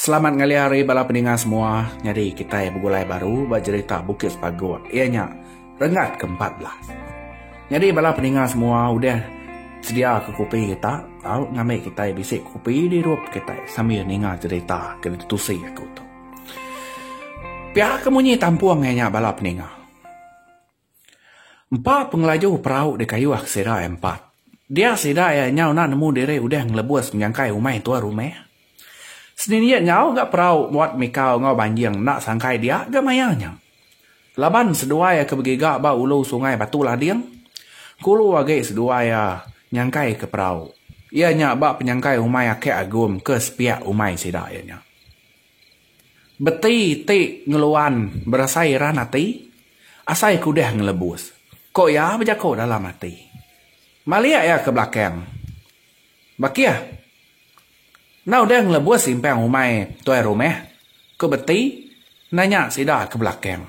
Selamat ngalih hari bala peninga semua. Nyadi kitai begulai baru ba jerita Bukit Sepagut iya nya Renggat ke empat belas. Nyadi bala peninga semua udah sedia ke kopi kita tau ngambi kitai bisi kopi di rup kitai sambil ninga jerita ke ditusi aku tu. Pia ke munyi tampung iya nya bala peninga. Empa pengelaju perau dikayuh sida iya empat. Dia sida iya nyau enda nemu diri udah ngelebus menyangkai umai tuan rumah. Seninjit nyau ga perau muat mikau enggau banjing enda sangkai dia ga maya nya. Laban seduai iya ke begiga ba ulu sungai Batu Lading, kulu agi seduai iya nyangkaika perau. Iya nya ba penyangkai umai Akek Agum ke sepiak umai sida iya nya. Beti ti ngeluan berasai iran ati, asai ke udah ngelebus. Ko iya bejako dalam ati. Malik iya ke belakang. Bakih. Enda udah ngelebus simpang umai tuai rumah, ko Beti nanya sida ke belakang.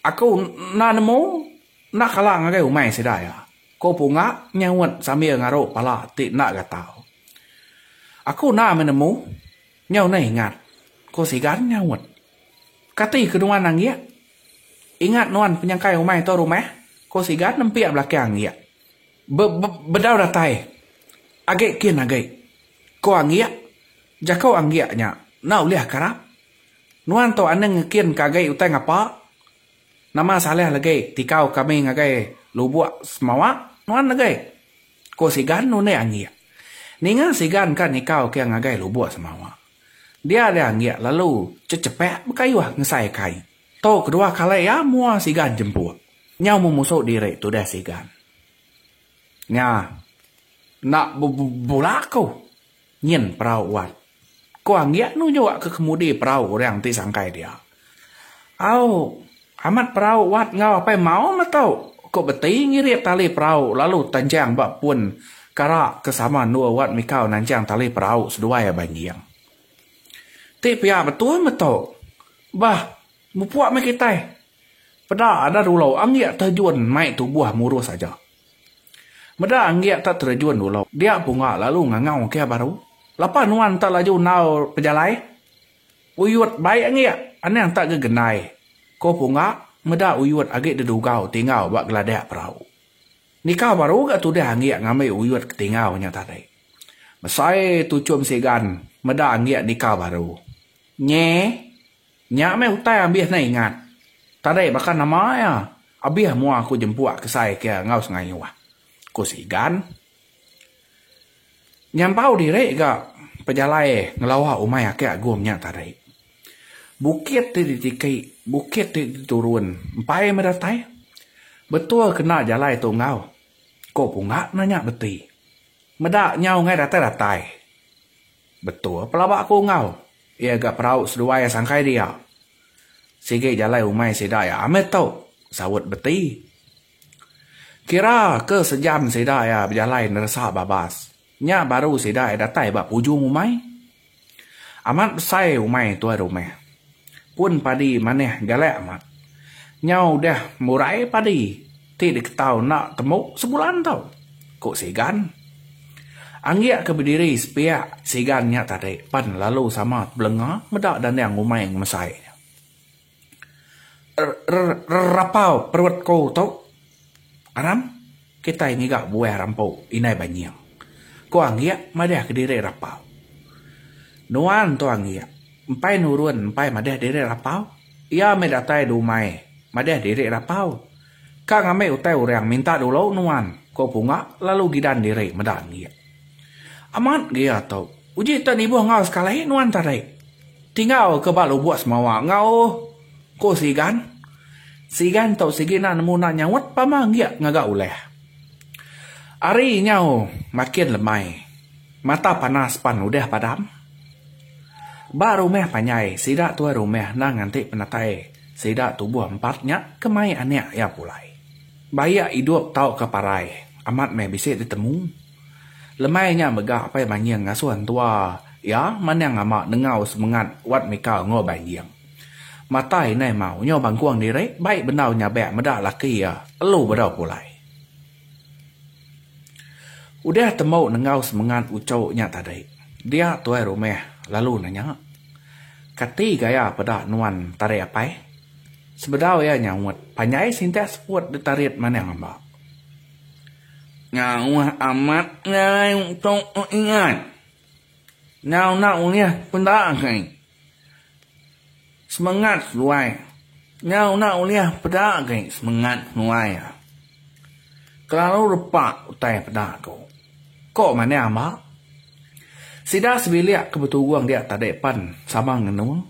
Aku enda nemu, enda kala ngagai umai sida iya. Ko Pungak nyaut sambil ngaruk pala ti enda gatau. Aku enda meh nemu. Nyau neh ingat, ko Sigan nyaut. Kati ke nuan anggik? Ingat nuan penyangkai umai tu rumah? ko Sigan nempik belakang anggik. Be-be-bedau datai. Agi kin agi, ko anggik. Jaku anggik nya enda ulih karap. Nuan tu aneng ngekin ke agi utai ngapa? Nama salah legi tikau kami ngagai lubuk semawa nuan legi? ku Sigan nundi anggik. Ninga Sigan ka nikau kia ngagai lubuk semawa. Dia dia anggik lalu cechepak bekayuh ngesai kai. Tu kedua kali iya mua Sigan jempuk. Nyau memusu diri tudah Sigan. Nya enda bebula aku. Nyin perau uat. Ko Anggiat nu jua ke kemudi perau orang ti sangkai dia. Au, amat perau uat enggau Apai Mau meh tu, ko Beti ngirit tali perau lalu tanjang ba pun kara ke sama endur uat mikau nanjang tali perau seduai abai engging. Ti pia betul meh tu. Bah, mupuk meh kitai. Peda ada dulu Anggiat terjun mai tubuh murus aja. Meda enggi tak terejun dulu, dia punga lalu ngangau kia baru. Lapa nuan tak laju enggau pejalai? Uyut baik enggi, anang tak gegendai, ko punga meda Uyut agi dedugau tinggau ba geladak perau. Nikau baru ga tudah enggi ngambi Uyut ke tinggau nya tadi. Mesai Tuchum Sigan meda enggi nikau baru. Nye? Nya meh utai ambis ne ingat. Tadai baka nama iya, abis mua aku jempuk kesai ke iya enggau sengayuh, ku si Igan. Nyampau diri ga pejalai ngelawa umai Aki Agum nya tadi. Bukit ti ditiki, bukit ti diturun, empai meh datai. Betul kena jalai tu enggau, ko Punggak nanya beti. Meda nyau ngai datai-datai. Betul pelaba aku enggau iya ga perau seduai sangkai dia. Sigi jalai umai sida iya amit tu, saut Beti. Kira ke sejam sida iya bejalai neresa babas, nya baru sida iya datai ba pujung umai. Amat besai umai tuai rumah. pun padi manah galak amat. Nyau udah murai padi ti diketau enda temu sebulan tu, ku Sigan. Anggik ke bediri sepiak Sigan nya tadi pan lalu sama tebelenga meda dandang umai ngemesai nya. Rrrrrrapau perut ku tu. Aram, kitai ngiga buah rampu indai banying, ku Anggik madahka diri rapau. Nuan tu Anggik empai nurun empai madah diri rapau. Iya meh datai dumai madah diri rapau. Ka ngambi utai orang minta dulu nuan, ku Punga lalu gidan diri meda Anggik. Amat gea tu. Uji tak nibuh enggau sekali nuan tadi. Tingau ke ba lubuk semawa enggau ko sigan. Sigan tu sigi nak nemu nak nyaut pama enggik ngaga ulah. Ari nyau makin lemai. Mata panas pan udah padam. Ba rumah panjai sida tuai rumah endang nganti penatai sida tubuh empat nya ke mai anak iya pulai. Bayak idup tauka parai, amat meh bisi ditemu. Lemai nya mega Apai Manjing ngasuh entua iya manang ama nengau semengat Wat Mika enggau Banjing. Mata indai mau nyau bangkung diri bai bendau nyabak meda laki iya telu bedau pulai. Udah tembu nengau semengat uchu nya tadi, dia tuai rumah lalu nanya, Kati gaya peda nuan tadi Apai? Sebedau iya nyaut, panjai sintak seput ditarit manah amba. Jauh amat ngalai tu ku ingat. Enda udah ulih peda kai. Semengat seduai. Enda udah ulih peda kai semengat seduai. Kelalu repa utai peda aku. Ko manah amba. Sida sebilik ke beturung dia tadi pan sama ngenung.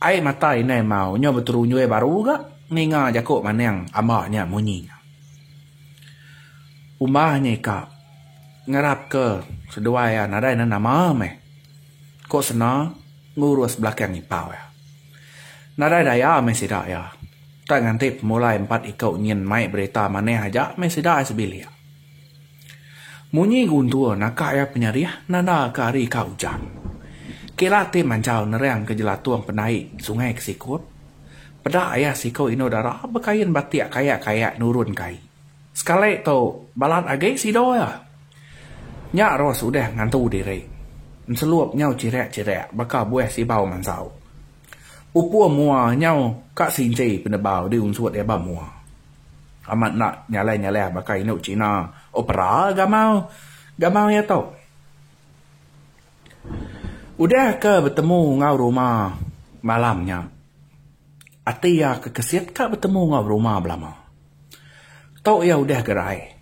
Ai mata indai mau nyo beterunjui baru ga ninga jaku manang amba nya munyi nya. Umbah nya ika ngarap ke seduai iya nadai nan nama meh. Ko sena ngurus belakang ipau iya. Nadai daya meh sida iya. Tang nganti pemulai empat iku nyin mai berita manah aja meh sida ai sebilik. Munyi Guntur naka iya penyerih nandaka ari ka ujan. Kila ti manjau nerang ke jelatung pendai sungai ke sikut. Peda iya siku indu dara bekain batik kayak-kayak nurun ke ai. Sekali tu balat agi sidu iya. Nya Ros udah ngantu diri. Enselup nyau chirak-chirak baka buah sibau mansau. Ukur mua nyau ka sinci penebau di unsut iya ba mua. Amat enda nyalah-nyalah baka indu China opera gamau gamau iya tu. Udah ke betemu enggau ruma malam nya, ati iya ke kesit ka betemu enggau ruma belama. Tu iya udah gerai.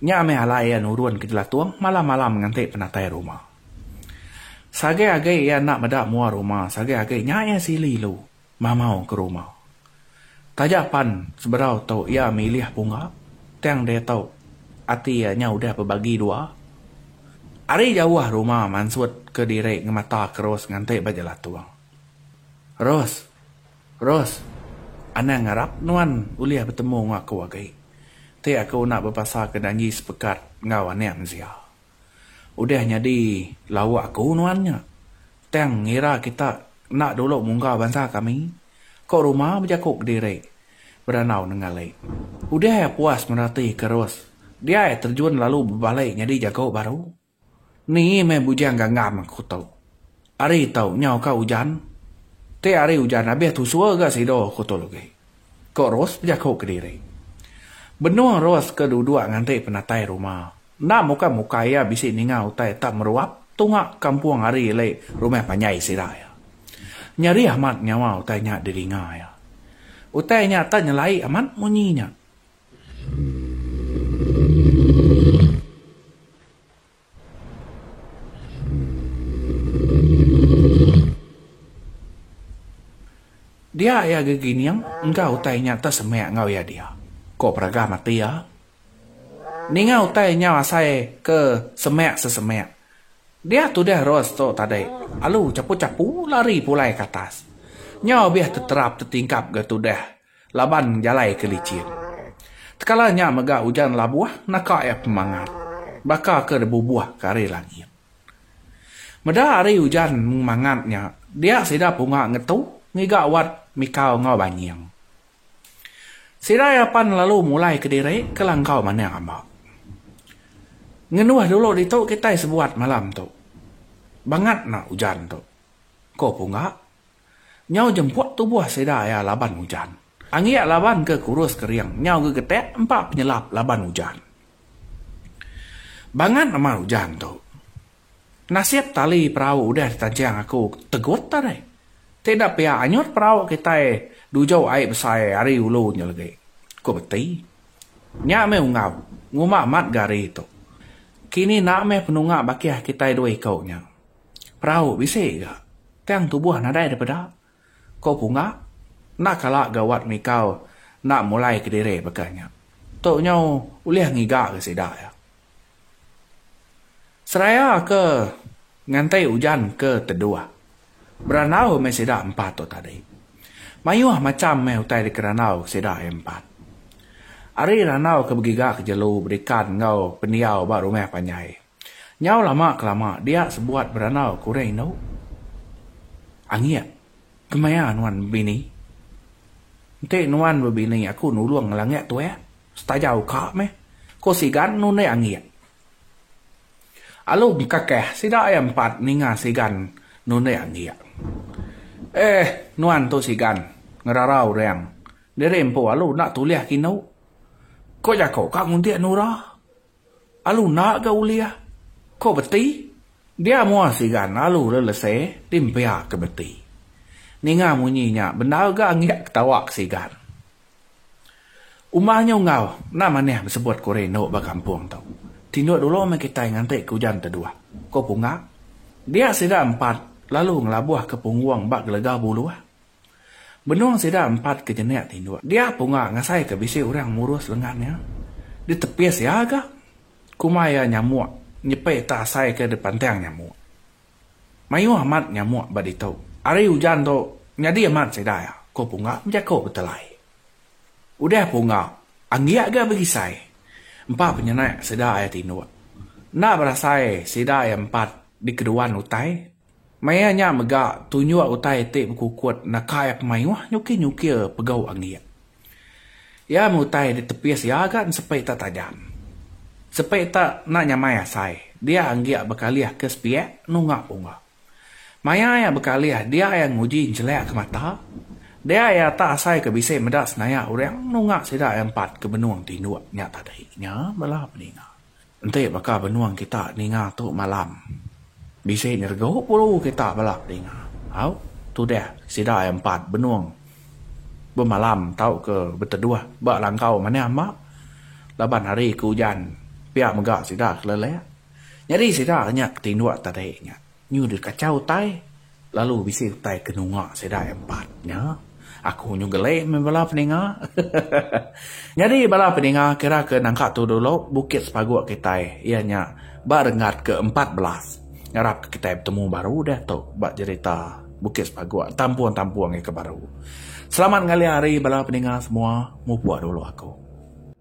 Nya meh alai iya nurun ke jelatung malam-malam nganti penatai ruma. Sagai agi iya enda meda mua ruma sagai agi nya iya sili lu mamau ke ruma. Taja pan sebedau tu iya milih pungga tang diatu ati iya nya udah bebagi dua. Ari jauh ruma mansut ke diri ngemata ke Ros nganti ba jelatung. Ros! Ros! Anang ngarap nuan ulih betemu enggau aku agi. Ti aku enda bepasaka janji sepekat enggau anak mensia. Udah nyadi lawa aku nuan nya. Tang ngira kita enda dulu mungga bansa kami. Ko rumah bejaku kediri. Beranau nenggali. Udah iya puas merati ke Ros, dia iya terjun lalu bebali nyadi jaku baru. Ni meh bujang ganggam aku tu. Ari tau nyau ka ujan? Ti ari ujan abih tusur ga sido, ku Tu Lugi. Ko Rose bejaku kediri. Benung Rose ke duduk nganti penatai ruma. Enda muka muka iya bisi ninga utai tak meruap tunga kampung ari ili rumah panjai sida iya. Nyerih amat nyawa utai nya didinga iya. Utai nya tak nyelai amat munyi nya. Dia iya gegining enggau utai nya tesemek enggau iya dia, ko Peragah mati iya. Ninga utai nyau asai ke semek sesemek. Dia tudah Ros tu tadi alu chapu-chapu lari pulai ke atas. Nyau bih teterap tetingkap ga tudah. Laban jalai ke licin. Tekala nya mega ujan labuh naka iya pemangat. Baka ke dibubuh ke ari langit. Meda ari ujan memangat nya, dia sida punga ngetu ngiga wat mikau enggau banying. Sida iya pan lalu mulai kediri ke langkau manah amba. Ngenuh dulu ditu kitai sebuat malam tu. Bangat enda ujan tu, ko Punga. Nyau jemput tubuh sida iya laban ujan. Anggik laban ke kurus kering nyau gegetik empa penyelap laban ujan. Bangat amat ujan tu. Penasip tali perau udah ditancing aku tegut tadi. Ti enda pia anyut perau kitai dujau ai besai ari ulu nya legi, ku Beti. Nya meh unggau ngumba mat ga ari tu. Kini enda meh penunga bakih kitai dua iku nya. Perau bisi ga tang tubuh nadai da peda, ko Punga. Enda kala ga Wat Mikau enda mulai kediri baka nya. Tu nyau ulih ngiga ga sida iya. Seraya ke nganti ujan ke teduh, berandau meh sida empat tu tadi. Mayuh macham meh utai dikerandau ke sida iya empat. Ari randau ke begiga ke jelu bedikan enggau pendiau ba rumah panjai. Nyau lama ke lama dia sebuat berandau ke orang indu. Anggik kemaya nuan bebini. Enti nuan bebini aku nulung ngelanggik tuek setaja uka meh ko sigan nuan deh anggik. Alu bekakeh sida iya empat ninga sigan nuan deh anggik. Eh nuan tu sigan ngerara orang diri empu alu enda tulih ke indu. Ko jako ka nguntik nura. Alu enda ga ulih ko beti. Dia mua sigan alu lelese ti mpia ke beti. Ninga munyi nya bendar ga ngiak ketawa ke sigan. Uma nyu enggau enda manah besebut ko rindu ba kampung tu. Tinduk dulu meh kitai nganti ke ujan teduh, ko Punga. Dia sida empat lalu ngelabuh ke punggung ba gelega buluh. Benung sida empat ke jenik tinduk. Dia punga ngasaika bisi orang ngurus lengan iya. Ditepis iya ga. Kuma iya nyamuk nyepi tak asai ke dipantang nyamuk. Mayuh amat nyamuk ba ditu. Hari ujan tu nyadi amat sida iya, ku punga bejako betelai. Udah punga anggik ga begisai. Empa penyenak sida iya tinduk. Enda berasai sida iya empat dikeduan utai. Maya nya mega tunjuk utai ti bekukut naka iya ke mayuh nyukir-nyukir pegau anggik. Iya meh utai ditepis iya ga ensepi tak tajam. Sepi tak enda nyamai asai dia anggik bekalih ke sepiak nunga pungga. Maya iya bekalih dia iya nguji enjelak ke mata dia iya tak asai ke bisi meda senayak orang nunga sida iya empat ke benung tinduk nya tadi nya bala peninga. Enti baka benung kita ninga tu malam, bisi nyeregu puru kita bala ninga. Au, tudah sida iya empat benung bemalam tauka beteduh ba langkau manah mak laban hari ke ujan pia mega sida kelelek. Nyadi sida nya tinduk tadi nya. Nyu deh kachau utai, lalu bisi utai ke nunga sida empat nya. Aku nyu gelek meh bala peninga. Nyadi bala peninga kira ke nangka tu dulu bukit sepaguk kitai iya nya ba renggat ke empat belas. Ngarap ke kitai betemu baru deh tu ba jerita bukit sepaguk tampung tampung ika baru. Selamat ngalia hari bala peninga semua mupuk dulu aku.